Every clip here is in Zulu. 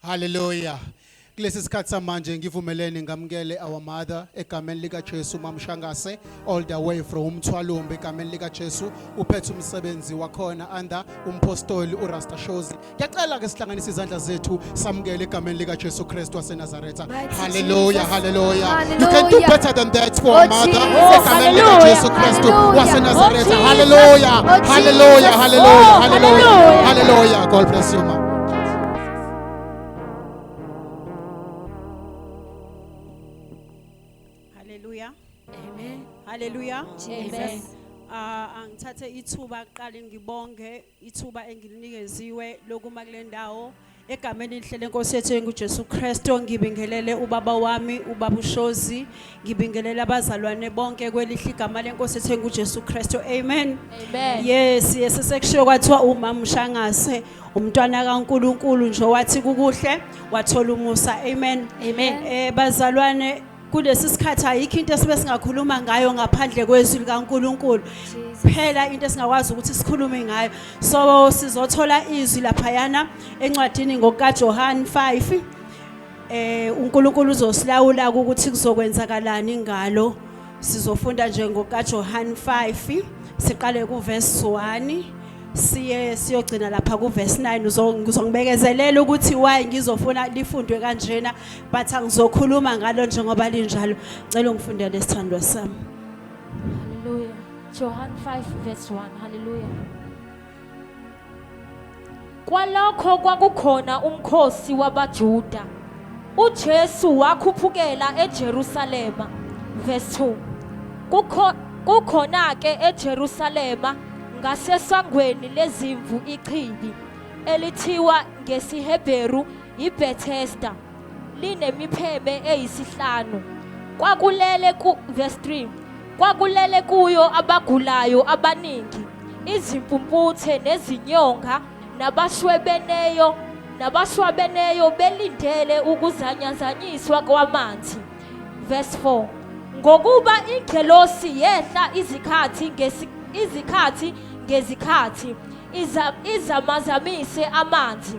Hallelujah. kulesi sikhathi samanje ngivumelene ngamukele our mother egameni likaJesu mamshangase all the way from umthwalumbe egameni likaJesu uphethe umsebenzi wakhona under umpostoli uRasta Shozi ngiyacela ke sihlanganise izandla zethu samukele egameni likaJesu Kristu waseNazareth Nazareth. Hallelujah, hallelujah. You can do better than that for oh, mother. Jesus. Hallelujah. Jesus Christ. Was in Nazareth. Oh, hallelujah. Oh, hallelujah. Hallelujah. Oh, hallelujah. Hallelujah. God bless you, ma'am. Hallelujah. Amen. Hallelujah. Jesus. Uh, angithathe ithuba kuqala ngibonge ithuba engilinikeziwe lokuma kule ndawo egameni elihle lenkosi yethu engujesu kristu ngibingelele ubaba wami ubaba ushozi ngibingelele abazalwane bonke kwelihle igama lenkosi yethu engujesu kristu amen Amen. yes yes sekushiwo kwathiwa umama ushangase umntwana kankulunkulu nje wathi kukuhle wathola umusa amen Amen. eh bazalwane kulesi sikhathi ayikho into esibe singakhuluma ngayo ngaphandle kwezwi likaNkuluNkulu phela into esingakwazi ukuthi sikhulume ngayo so sizothola izwi laphayana encwadini ngokaJohane 5 eh uNkulunkulu uzosilawula ukuthi kuzokwenzakalani ngalo sizofunda nje ngokaJohane 5 siqale kuverse 1 siye siyogcina lapha kuverse 9 uzongibekezelela ukuthi why ngizofuna lifundwe kanjena but angizokhuluma ngalo njengoba linjalo cela ungifundele isithandwa sami haleluya Johan 5 verse 1 haleluya Kwalokho kwakukhona umkhosi wabaJuda uJesu wakhuphukela eJerusalema verse 2 kukho kukhona ke eJerusalema ngasesangweni lezimvu ichibi elithiwa ngesiHebheru yiBethesda linemipheme eyisihlanu kwakulele ku verse 3 kwakulele kuyo abagulayo abaningi izimpumputhe nezinyonga nabashwebeneyo nabashwabeneyo belindele ukuzanyazanyiswa kwamanzi verse 4 ngokuba ingelosi yehla izikhathi izikhathi ngezikhathi izamazamise amanzi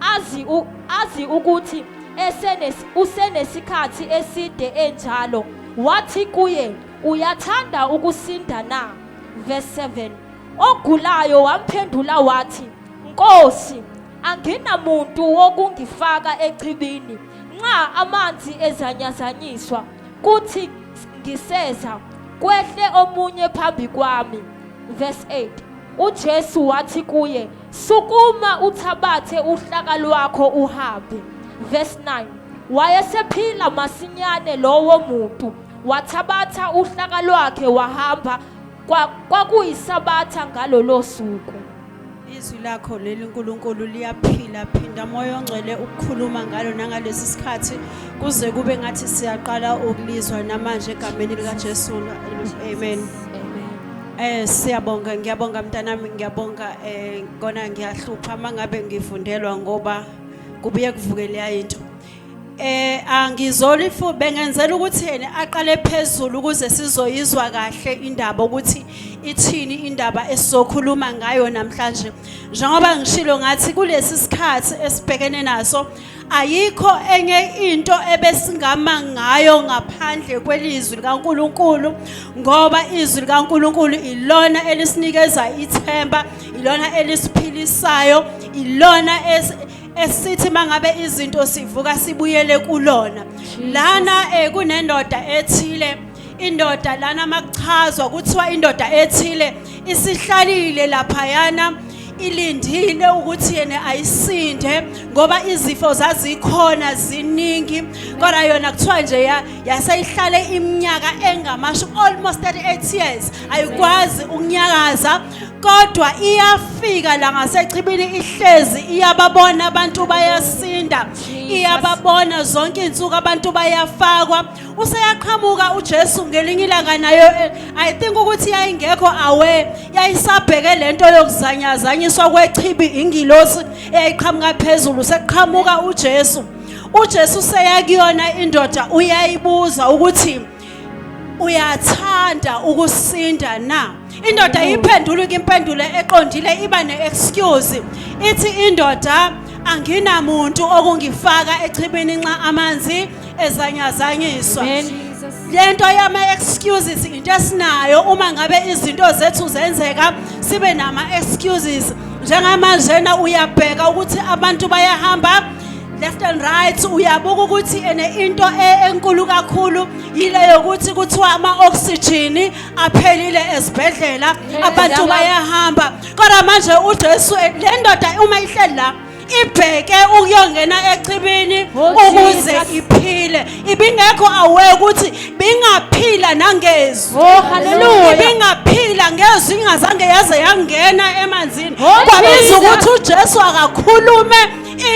azi u- azi ukuthi esenes- usenesikhathi eside enjalo wathi kuye uyathanda ukusinda na verse 7 ogulayo wamphendula wathi nkosi anginamuntu wokungifaka echibini nxa amanzi ezanyazanyiswa kuthi ngiseza kwehle omunye phambi kwami verse 8 ujesu wathi kuye Sukuma uthabathe uhlaka lwakho uhambe. Verse 9. Wayesephila masinyane lowo muntu, wathabatha uhlaka lwakhe wahamba kwakuyisabatha ngalolo suku. Izwi lakho leli Nkulunkulu liyaphila phinda moya ongcwele ukukhuluma ngalo nangalesi sikhathi kuze kube ngathi siyaqala ukulizwa namanje egameni likaJesu. Amen. Eh siyabonga ngiyabonga mntanami ngiyabonga eh kona ngiyahlupha mangabe ngifundelwa ngoba kubuye kuvuke leya into. Eh angizoli fu bengenzela ukuthi yena aqale phezulu ukuze sizoyizwa kahle indaba ukuthi ithini indaba esizokhuluma ngayo namhlanje. Njengoba ngishilo ngathi kulesi sikhathi esibhekene naso Ayikho enye into ebesingama ngayo ngaphandle kwelizwi likaNkuluNkulu ngoba izwi likaNkuluNkulu ilona elisinikeza ithemba, ilona elisiphilisayo, ilona esithi mangabe izinto sivuka sibuyele kulona. Lana eh, kunendoda ethile indoda lana makuchazwa kuthiwa indoda ethile isihlalile laphayana ilindile ukuthi yena ayisinde ngoba izifo zazikhona ziningi kodwa yona kuthiwa nje yaseyihlale iminyaka engamashumi almost 38 years ayikwazi ukunyakaza kodwa iyafika la ngasechibini ihlezi iyababona abantu bayasinda iyababona zonke insuku abantu bayafakwa useyaqhamuka uJesu ngelinye ilanga nayo eh, i think ukuthi yayingekho aware yayisabheke lento yokuzanyazanyiswa kwechibi ingilosi eyayiqhamuka phezulu sekuqhamuka uJesu uJesu seyakuyona indoda uyayibuza ukuthi uyathanda ukusinda na indoda iphendula impendulo eqondile iba ne-excuse ithi indoda anginamuntu okungifaka echibini nxa amanzi ezanyazanyiswa lento yama excuses into esinayo uma ngabe izinto zethu zenzeka sibe nama excuses njengamanje na uyabheka ukuthi abantu bayahamba left and right uyabuka ukuthi ene into e, enkulu kakhulu yile yokuthi kuthiwa ama-oxygen aphelile ezibhedlela abantu bayahamba kodwa manje ujesu le ndoda uma ihleli la ibheke ukuyongena echibini oh, ukuze iphile ibingekho aware ukuthi bingaphila nangezwi oh, ibingaphila ngezwi ingazange yaze yangena emanzini oh, kwabiza ukuthi uJesu akakhulume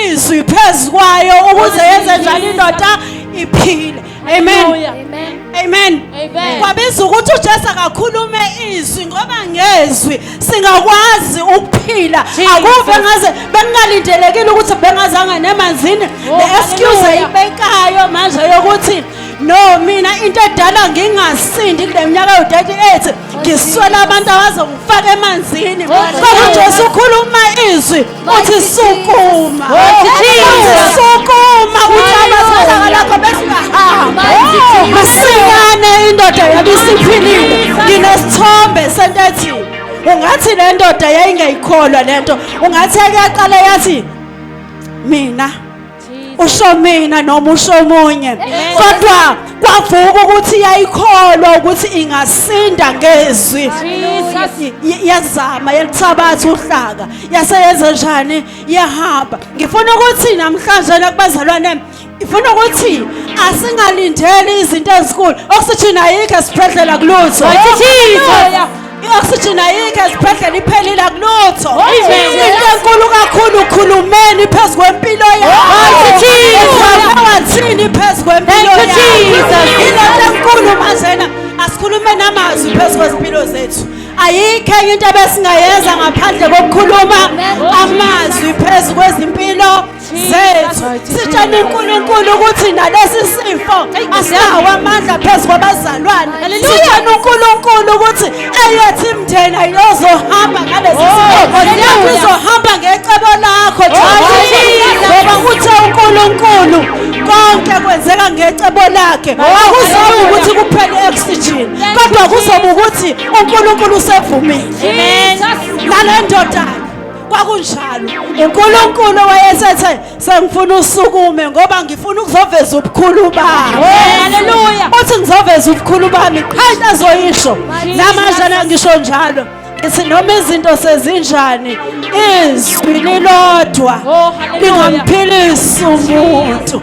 izwi phezukwayo ukuze yenze njalo indoda iphile Amen. Amen. Amen. Amen. Kwabiza ukuthi uJesu akakhulume izwi ngoba ngezwi singakwazi ukuphila. Akuve ngaze bengalindelekile ukuthi bengazanga nemanzini. Oh, The excuse ayibekayo manje yokuthi no mina into edala ngingasindi kule minyaka yo-38 ngiswela abantu abazongifaka emanzini kodwa nje usukhuluma izwi Uthi sukuma. Uthi sukuma uhlabazana ngalakho bese ungahamba. Masinyane indoda yabe isiphilile. Nginesithombe sento ethi ungathi le ndoda yayingayikholwa le nto ungathi yake yaqala yathi mina usho mina noma usho omunye kodwa kwavuka ukuthi yayikholwa ukuthi ingasinda ngezwi yazama yalithabatha uhlaka yaseyenza njani yahamba ngifuna ukuthi namhlanje nakubazalwane ifuna ukuthi asingalindeli izinto ezinkulu okusithina yikho esibhedlela kulutho i-oxygen ayikho ezibhedlela iphelile akulutho into enkulu kakhulu ukhulumeni phezu kwempilo yakhoathini phezu kwempilo ilento enkulu manjena asikhulume namazwi phezu kwezimpilo zethu ayikho enye into ebesingayenza ngaphandle kokukhuluma amazwi phezu kwezimpilo zethu sitshela uNkulunkulu ukuthi nalesi sifo asinawo amandla phezu kwabazalwane sitshela uNkulunkulu ukuthi eyethi imndeni ayizohamba ngalesi sifo oh, izohamba ngecebo lakho ngoba kuthe uNkulunkulu konke kwenzeka ngecebo lakhe oh, akuzoba ukuthi kuphele oxygen kodwa kuzoba ukuthi uNkulunkulu usevumile nale ndoda kwakunjalo unkulunkulu wayesethe sengifuna usukume ngoba ngifuna ukuzoveza ubukhulu bami haleluya uthi ngizoveza ubukhulu bami qha into azoyisho namanje nangisho njalo ngithi noma izinto sezinjani izwi lilodwa oh, lingamphilisi umuntu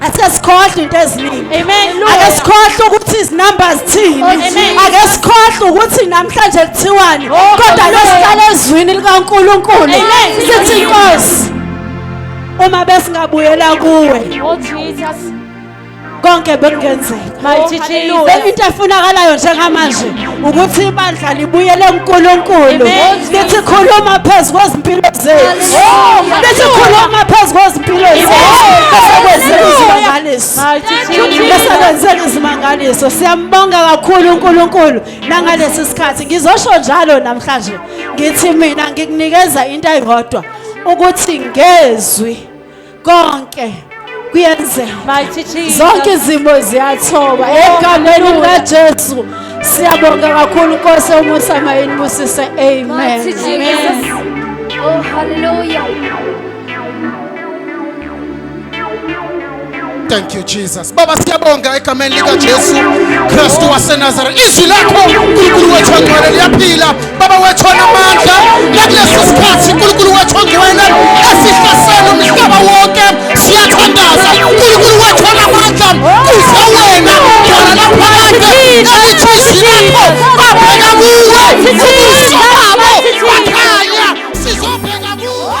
Ake sikhohle into eziningi. Amen. Ake sikhohle ukuthi izinumbers thini. Ake sikhohle ukuthi namhlanje kuthiwani. Oh, Kodwa lesihlale ezwini likaNkuluNkulu. Sithi inkosi. Uma besingabuyela kuwe. Oh Jesus. Konke bekungenzeka. Mighty Jesus. Hallelujah. into efunakalayo njengamanje ukuthi ibandla libuyele kuNkulunkulu Amen. lithi khuluma phezu kwezimpilo zethu Hallelujah. lithi khuluma phezu kwezimpilo zethu besekwenzeka izimangaliso Mighty Thank you, Jesus. besekwenzeka izimangaliso siyambonga kakhulu uNkulunkulu nangalesi sikhathi ngizosho njalo namhlanje ngithi mina ngikunikeza into eyodwa ukuthi ngezwi konke kuyenzeka zonke izimo ziyathoba egameni likajesu siyabonga kakhulu nkosi umusa mayini busise amen oh hallelujah thank you jesus Baba siyabonga egameni likaJesu Kristu waseNazareth. Izwi lakho uNkulunkulu wethu ongcwele liyaphila. Baba wethu onamandla, nakulesi sikhathi uNkulunkulu wethu ongcwele esihlasela umhlaba wonke. Siyathandaza uNkulunkulu wethu onamandla, kuze wena khona lapha kade ukuthi izwi lakho babheka kuwe ubuso babo bakhanya sizobheka kuwe.